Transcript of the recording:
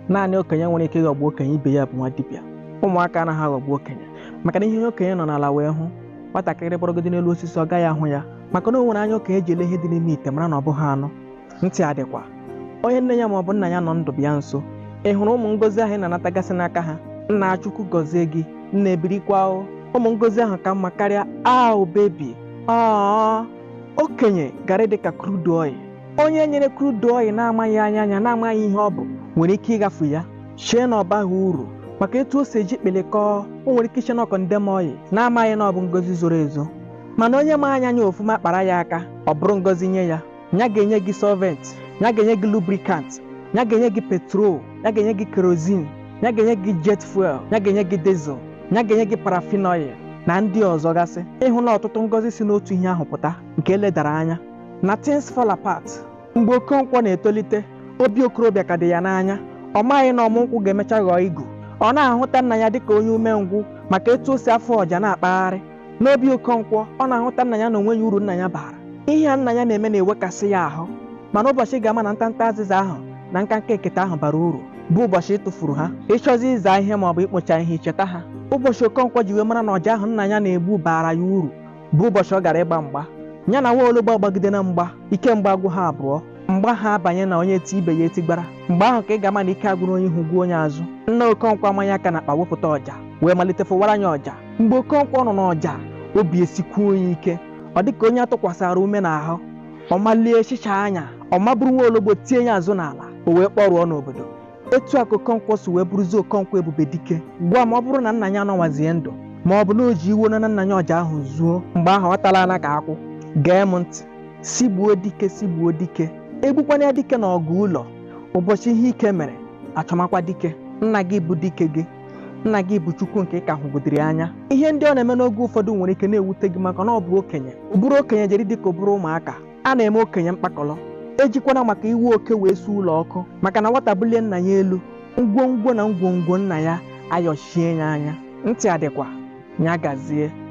naanị okenye nwere ike ịghọgbu okenye ibe ya bụ nwa dibịa ụmụaka anaghị aghọgbu okenye maka na ihe onye okenye nọ n'ala wee hụ nwatakịrị gbọrọgodi n'elu osisi ọ gaghị ahụ ya maka na o nwere anya okenye ji ele ihe dị n'ime ite mara na ọ bụghị anụ ntị adịkwa onye nne ya ma ọ bụ nna ya nọ ndụ bịa nso ị hụrụ ụmụ ngozi ahụ ị na-anatagasị n'aka ha nna chukwu gọzie gị nna ebirikwa o ụmụ ngozi ahụ ka mma karịa aụ bebi aa okenye gara dị ka crude oil onye e nyere crude oil na-amaghị anya ya na-amaghị ihe ọ bụ nwere ike ịghafu ya chee na ọ baghị uru maka etu o si eji kpịlịkọọ o nwere ike iche na ọ condemn oil na-amaghị na ọ bụ ngozi zoro ezo mana onye ma anya ya ọfụma kpara ya aka ọ bụrụ ngozi nye ya ya ga-enye gị solvent ya ga-enye gị lubricant ya ga-enye gị petrol ya ga-enye gị kerosene ya ga-enye gị jet fuel ya ga-enye gị diesel ya ga-enye gị paraffin oil na ndị ọzọ gasị ịhụla ọtụtụ ngozi si n'otu ihe ahụ pụta nke e ledara anya na Things Fall Apart. Mgbe Okonkwo na-etolite, obi okorobịa ka dị ya n'anya. Ọ maghị na ọmụ nkwụ ga-emecha ghọọ igu. Ọ na-ahụta nna ya dịka onye umengwụ maka etu o si afụ ọja na-akpagharị. N'obi Okonkwo, ọ na-ahụta nna ya na o nweghị uru nna ya bara. Ihe a nna ya na-eme na-ewekasị ya ahụ. Mana ụbọchị ị ga-ama na ntanta azịza ahụ na nkanka ekete ahụ bara uru bụ ụbọchị ị tụfuru ha ị chọzie ịza ihe maọbụ ikpocha ihe i cheta ha ụbọchị Okonkwo ji wee mara na ọja ahụ nna ya na-egbu baara ya uru bụ ụbọchị ọ gara ịgba mgba ya na nwa ologbo agbagide na mgba ike mgba agwụ ha abụọ mgba ha abanye na onye ti ibe ya etigbara mgbe ahụ ka ị ga-ama na ike agwụrụ onye ihu gwụ onye azụ nna okonkwo amanya aka n'akpa wepụta ọja wee malite fụwara ya ọja mgbe okonkwo nụrụ ọja obi esikwuo ya ike ọ dị ka onye a tụkwasara ume n'ahụ ọ malie hichaa anya ọ maburu nwa ologbo tie ya azụ n'ala o wee kpọrụọ n'obodo etu a ka okonkwo si wee bụrụzie okonkwo ebube dike gwa m ma ọ bụrụ na nna ya anọwazie ndụ ma ọ bụ na o ji iwe nara nna ya ọja ahụ zoo mgbe ahụ ọ tala ana ka akwụ gee m ntị sị gbuo dike sị gbuo dike egbukwana ya dike na ọgụ ụlọ ụbọchị ihe ike mere achọmakwa dike nna gị bụ dike gị nna gị bụ chukwu nke ị ka hụgodiri anya ihe ndị ọ na-eme n'oge ụfọdụ nwere ike na-ewute gị maka na ọ bụ okenye ụbụrụ okenye jere dịka ụbụrụ ụmụaka a na-eme okenye mkpakọrọ ejikwana maka iwe oke wee suo ụlọ ọkụ maka na nwata bulie nna ya elu ngwongwo na ngwongwo nna ya ayọchie ya anya ntị adịkwa ya gazie